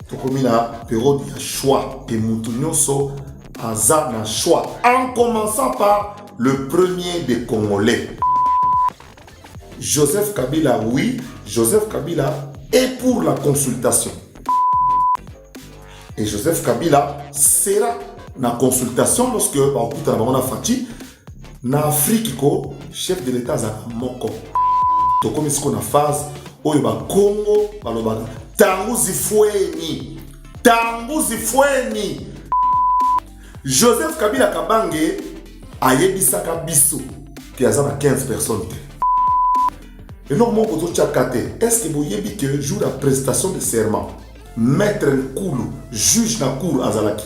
tokomi na periode ya choix et mutu nyonso aza na choix en commençant par le premier des congolais joseph kabila oui joseph kabila est pour la consultation et joseph kabila sera na consultation lorsque bakutana bango na faci na afriki ko chef de l'etat azalaka moko tokomi siko na phase oyo bakongo balobaka tangu zifweni tangu zifweni joseph kabila kabange ayebisaka biso ke aza na 15 personnes te eloko moko totyaka te est ce que boyebi ke jour ya prestation de serment maître nkulu juge na cour azalaki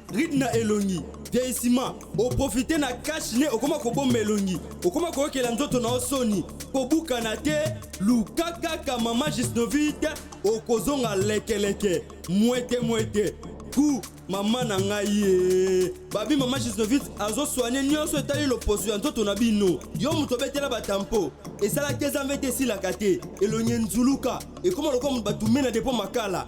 ride na elongi vieillissement oprofite na cash ne okoma kobomba elongi okoma koyokela nzoto na yo soni kobukana te luka kaka mama gisnovite okozonga lekeleke mwete mwete ku mama na ngai ye babi mama gisnovite azoswane nyonso etali loposo ya nzoto na bino yo moto obetela batampo esalaki ezambe te esilaka te elongi enzuluka ekoma lokola moto batumena depo makala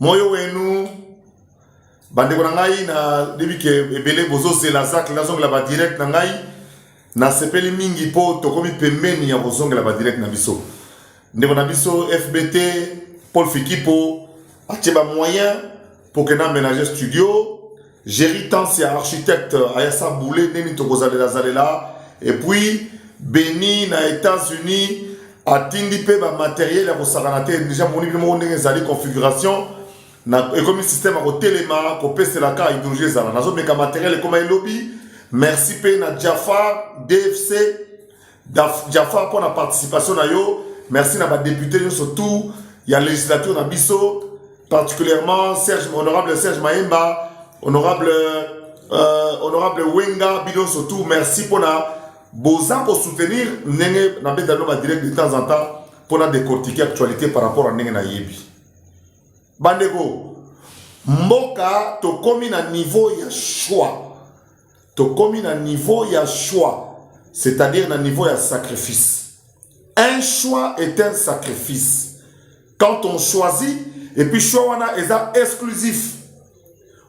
moyo wenu bandeko na ngai na debi ke ebele bozozela zacle nazongela badirect na ngai nasepeli mingi mpo tokomi pembeni ya kozongela badirect na biso ndeko na biso fbt paul fikipo atie bamoyen mpo ke na ménage studio Jerry Tans ya architecte ayasa boule nini tokozalela zalela et puis Beni na États-Unis atindi mpe ba matériel ya kosakana te déjà moni bino moko ndenge ezali configuration na ekomi système ya kotelema kopesela ka idéologie ezala nazomeka matériel ekoma elobi merci mpe na Jafar DFC Jafar mpo na participation na yo merci na badepute nyonso tout ya législature na biso particulièrement Serge, honorable Serge Maemba, honorable, euh, honorable Wenga, Bidon surtout, merci pour la boza pour soutenir Nenge na beta no direct de temps en temps pour la décortiquer actualité par rapport à Nenge na yebi. Bandeko, mboka tokomi na niveau ya choix tokomi na niveau ya choix c'est-à-dire na niveau ya sacrifice un choix est un sacrifice quand on choisit et puis choix wana eza exclusif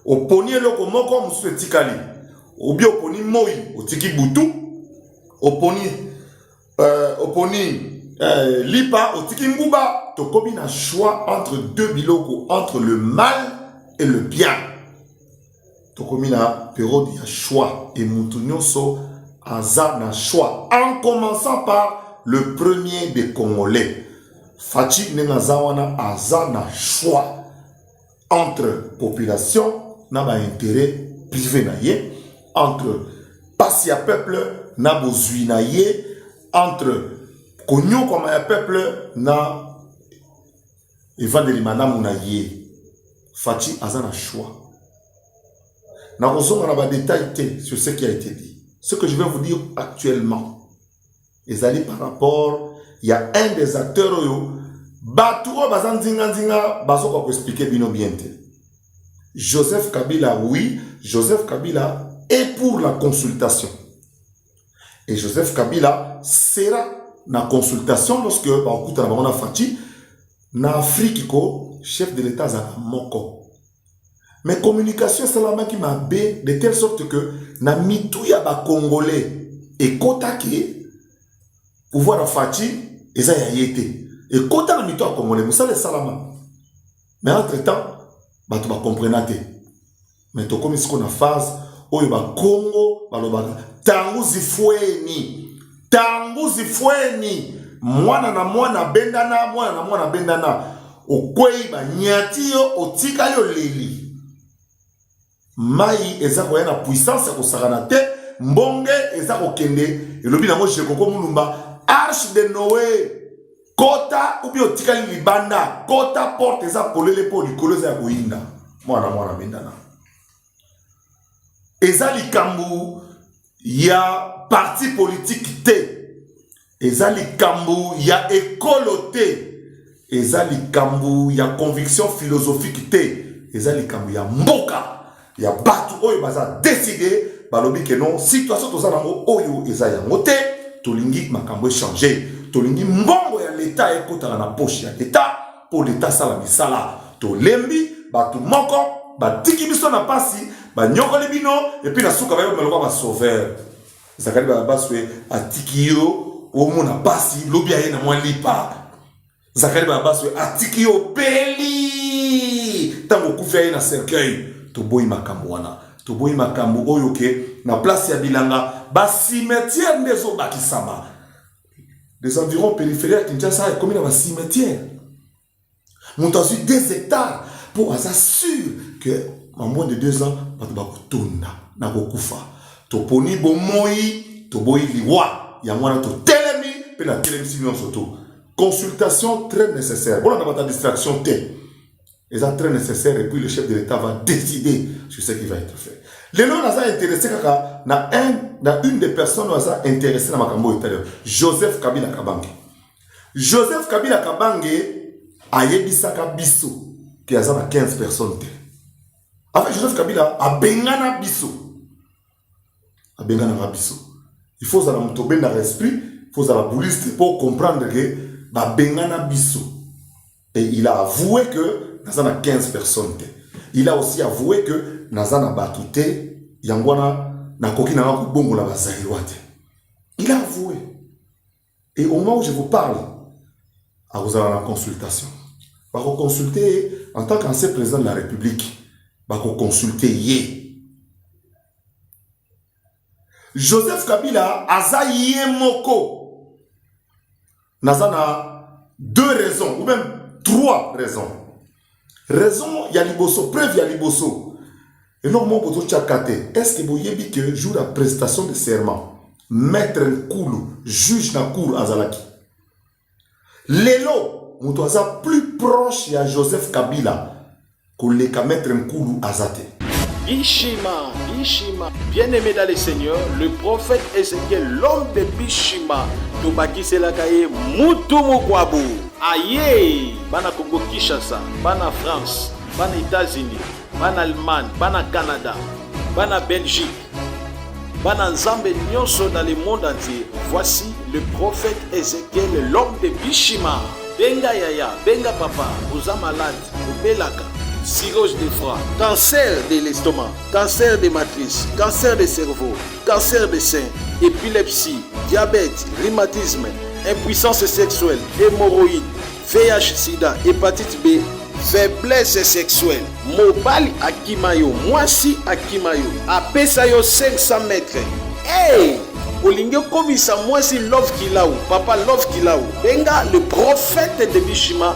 oponi eloko moko mosusu etikali obi oponi moi otiki butu oponi euh, oponi euh, lipa otiki nguba tokomi na choix entre deux biloko entre le mal et le bien tokomi na periode ya choix et mutu nionso aza na choix en commençant par le premier des congolais Fatshi ndenge aza wana aza na choix entre population na ba intérêt privé na ye entre pasi ya peuple na bozwi na ye entre konyokwama ya peuple na Evandeli malamu na ye. Fatshi aza na choix. Nakozonga na ba details te sur ce qui a été dit. Ce que je vais vous dire actuellement ezali par rapport ya un des acteurs oyo bato oyo baza nzinganzinga bazoka koexplike bino bien te joseph kabila oui joseph kabila est pour la consultation et Joseph Kabila sera na consultation lorsque bakutana bango na Fatshi na Afrique ko chef de l'État azalaka moko mais communication esalamaki mabe de telle sorte que na mitu ya bacongolais ekotaki pouvoir ya Fatshi eza ya ye te ekota na mitu ya congolais mosala esalama mais entre temps bato bacomprena te mais tokomi siko na phase oyo bakongo balobaka tangu zifweni tangu zifweni mwana na mwana abendana mwana na mwana abendana okwei banyati yo otikali oleli Mai eza koya na puissance ya kosakana te, mbonge eza kokende, elobi nango Jekoko Mulumba, arche de Noe kota ubi otikali libanda kota porte eza polele mpo likolo eza ya koyinda mwana mwana bendana eza likambo ya parti politique te eza likambo ya ekolo te eza likambo ya conviction philosophique te eza likambo ya mboka ya bato oyo baza decide balobi ke non situation toza nango oyo eza yango te tolingi makambo echange tolingi mbongo ya leta ekotaka na poche ya leta Mpo Leta asala misala. Tolembi, bato moko batiki biso na pasi, banyokoli bino, epi na suka bayebama lokola ba sauveur. Zakari Barabaswe atiki yo omona pasi, lobi aye na mwa lipa. Zakari Barabaswe atiki yo obeli, ntango okufi aye na cercueil. Toboyi makambo wana, toboyi makambo oyo ke na place ya bilanga ba cimetière nde ezobakisama. des environs périphérie ya kinshasa ekomi na bacimetière moto azwi deux hectare mpo aza sur que en moins de deux ans bato bakotonda na kokufa toponi bomoi toboyi liwa yango wana totelemi mpe natelemisi nyonso to consultation très nécessaire bolanda bata distraction te eza très nécessaire et puis le chef de l'État va décider sur ce qui va être fait. Lelo naza intéressé kaka na un na une des personnes oyo aza intéressé na makambo etali Joseph Kabila Kabange. Joseph Kabila Kabange ayebisaka biso ke aza na 15 personnes te. En fait Joseph Kabila abengana biso abenganaka biso il faut ozala moto obendaka esprit il faut ozala bouliste mpo comprendre ke babengana biso et il a avoué que naza na 15 personnes te il a aussi avoué que naza na bato te yango wana nakoki nanga kobongola bazairois te il a avoué et au moment où je vous parle akozala na consultation bakoconsulte ye en tant qu'ancien président de la république bakoconsulte ye joseph kabila aza ye moko naza na deux raisons ou même trois raisons raison ya liboso preuve ya liboso eloko moko bozotyaka te est ce que boyebi que jour ya prestation de serment maître nkulu juge na cour azalaki lelo moto aza plus proche ya joseph kabila koleka maître nkulu aza te Bishima, Bishima, bien-aimé dans le Seigneur, le prophète Ézéchiel, l'homme de Bishima, tobakisela kaye mutu mukwabu. Ayee! Bana Congo Kinshasa, bana France, bana Etats-Unis, bana Allemagne, bana Canada, bana Belgique, bana Nzambe nyonso dans le monde entier, voici le prophète Ezekiel, l'homme de Bishima. Benga yaya, benga papa, oza malade, obelaka, cirrhose de foie, cancer de l'estomac, cancer de matrice, cancer de cerveau, cancer de sein, epilepsie, diabète, rhumatisme, impuissance sexuelle, hémorroïde, VIH, sida, hepatite B, faiblesse sexuelle, mobali akima yo, mwasi akima yo, apesa yo 500 mètres. Hey! olingi okomisa mwasi love kilau papa love kilau benga le prophète de bishima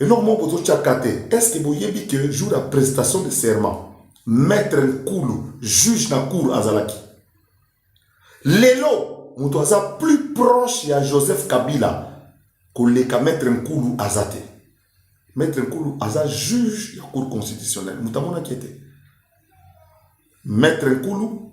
eloko moko bozotyaka te estce boyebi ke jour ya prestation de serment maître nkulu juge na cour azalaki lelo moto aza plus proche ya joseph kabila koleka maître nkulu aza te maître nkulu aza juge ya cour constitutionnelle moto amonaki ete maître nkulu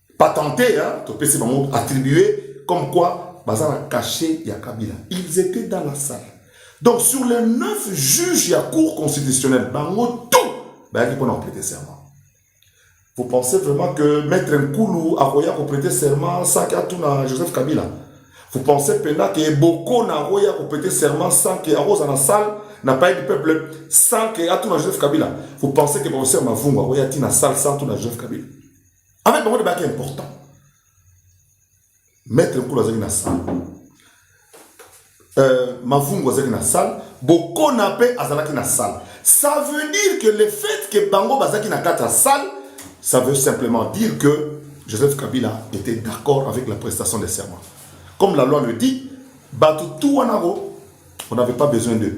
patente hein, topesi bango attribue comme quoi baza na cachet ya kabila ils étaient dans la salle donc sur les neuf juges ya cour constitutionnelle bango tout bayaki mpona koprete serment vous pensez vraiment que maître nkulu akoya koprete serment saki atuna joseph kabila vous pensez mpena ke bokona akoya koprete serment sans ke akoza na salle na paye du peuple sans ke atuna joseph kabila vous pensez ke professeur mavungu akoya ti na salle sans tuna joseph kabila En fait, bango nde baki important. Maître Nkulu azalaki na salle. Euh, Mavungu azalaki na salle. Bokona mpe azalaki na salle. Ça veut dire que le fait que bango bazalaki na kati ya salle, ça veut simplement dire que Joseph Kabila était d'accord avec la prestation des serments. Comme la loi le dit, Batutu Wanaro, on n'avait pas besoin d'eux.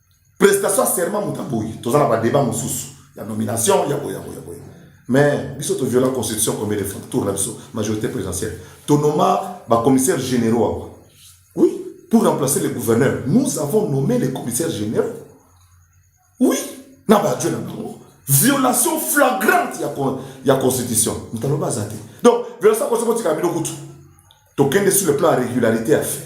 prestation ya serment moto aboyi toza na badeba mosusu ya nomination ya boye ya boye ya boye mais biso toviola constitution combien de fois tour na biso majorité présidentielle tonoma bacommissaire généraux awa oui pour remplacer le gouverneur nous avons nommé les commissaires généraux oui na baadjoint na bango violation flagrante ya, con, ya constitution moto aloba aza te donc violation ya constitution kotika bino kutu tokende sur le plan ya régularité ya fait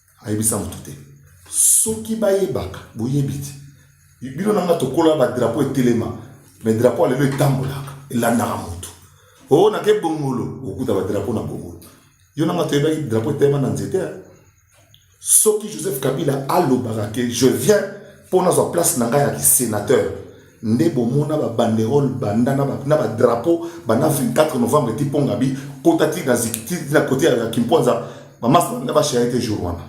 ayebisa moto te soki bayebaka boyebi te bino nanga tokola badrapo etelema me drapo alelo etambolaka elandaka moto o oh, nake bongolo okuta badrapo na bongolo yo nanga toyebaki drapo etelema na nzete soki joseph kabila alobaka ke je viens mpo nazwa place na ngai ya kisenateur nde bomona ba banderole banda na ba drapeau banda 24 novembre ti ponga bi kota ti na zikiti na kote ya kimponza ba masse banda ba charite jour wana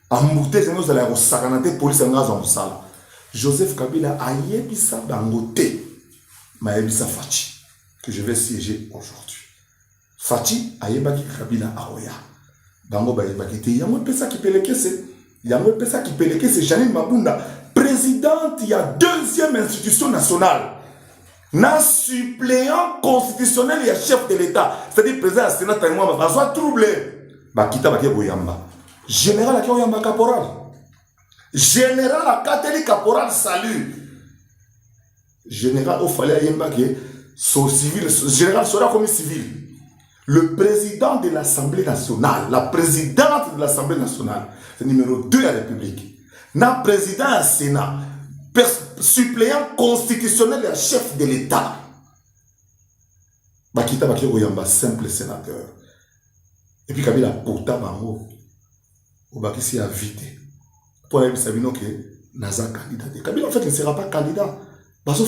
ambute zenge ozala ya kosakana te polisi yanga azwa mosala joseph kabila ayebisa bango te mayebisa faci que je vais siéger aujourd'hui Fatshi ayebaki Kabila akoya. Bango bayebaki te. Yango epesa kipelekese. Yango epesa kipelekese Janine Mabunda, presidente ya deuxième institution nationale na suppléant constitutionnel ya chef de l'État, c'est-à-dire président ya Sénat Tangwa bazwa trouble. Bakita bake koyamba. Général ake oyamba caporal. Général akateli caporal salut. General o fallait ayemba ke so civil general soda komi civil. Le président de l'Assemblée nationale, la présidente de l'Assemblée nationale, c'est numéro 2 ya République. Na président ya Sénat, suppléant constitutionnel ya chef de l'État. Bakita bakiko yamba simple sénateur. Et puis Kabila pota bango obakisi ya vie te mpo ayebisa bino ke naza candidat te kabila en fait ne sera pas candidat bazo